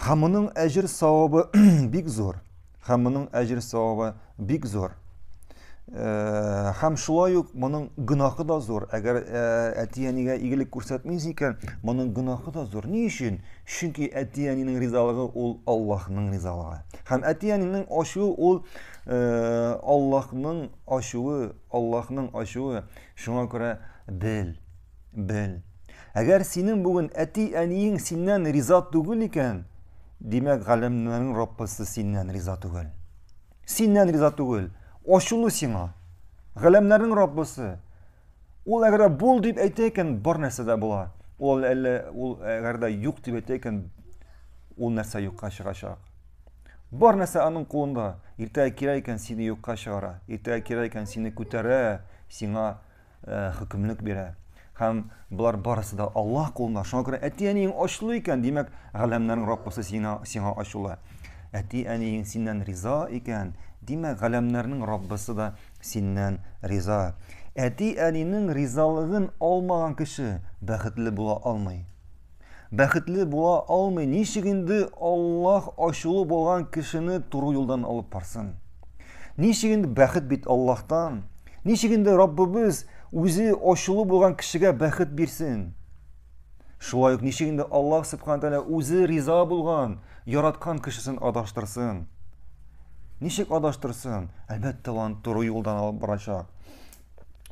Һәм моның әҗер савабы бик зур. Һәм моның әҗер савабы бик зур. Э, һәм шулай ук моның гөнаһы да зур. Әгәр э, әти-әнигә игелек күрсәтмис икән, моның гөнаһы да зур. Ни өчен? Чөнки әти-әнинең ризалыгы ул Аллаһның ризалыгы. Һәм әти-әнинең ачуы ул э, Аллаһның ачуы, Аллаһның ачуы. Шуңа күрә бел, Бел. Әгәр синең бүген әти-әниең синнән риза түгел икән, димәк, галәмнәрнең Раббысы синнән риза түгел. Синнән риза түгел. Ачулы сиңа. Галәмнәрнең Раббысы. Ул әгәр бул дип әйтә икән, бар нәрсә дә була. Ул әллә ул әгәр дә юк дип әйтә икән, ул нәрсә юкка чыгачак. Бар нәрсә аның кулында. Иртәгә кирәк икән сине юкка чыгара. Иртәгә кирәк икән сине күтәрә, сиңа Э, хөкемлек бирә һәм болар барысы да аллаһ кулында шуңа күрә әти әниең очлы икән димәк галәмнәрнең раббысы сиңа сиңа ачулы әти әниең синнән риза икән димәк галәмнәрнең раббысы да синнән риза әти әнинең ризалыгын алмаган кеше бәхетле була алмый Бәхетле була алмый, ничек инде Аллаһ ачулы булган кешене туры юлдан алып барсын? Ничек инде бәхет бит Аллаһтан? Ничек инде Раббыбыз үзе ачулы булган кешегә бәхет бирсен? Шулай ук ничек инде Аллаһ Субхану тәгалә үзе риза булган, яраткан кешесен адаштырсын? Ничек адаштырсын? Әлбәттә, аны туры юлдан алып барачак.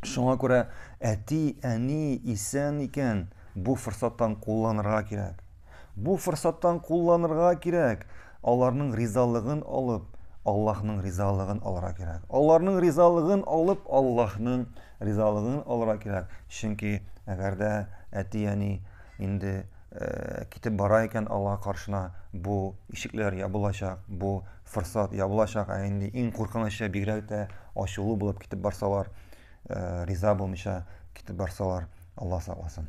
Шуңа күрә әти, әни исән икән, бу форсаттан кулланырга кирәк. Бу форсаттан кулланырга кирәк. Аларның ризалыгын алып, Аллаһның ризалыгын алырга кирәк. Аларның ризалыгын алып, Аллаһның ризалыгын алырга кирәк. Чөнки әгәр дә әти, әни инде китеп бара икән Аллаһ каршына, бу ишекләр ябылачак, бу форсат я булачак, ә инде иң куркынычы бигрәк тә ачулы булып китеп барсалар, э, риза булмыйча китеп барсалар, Алла сакласын.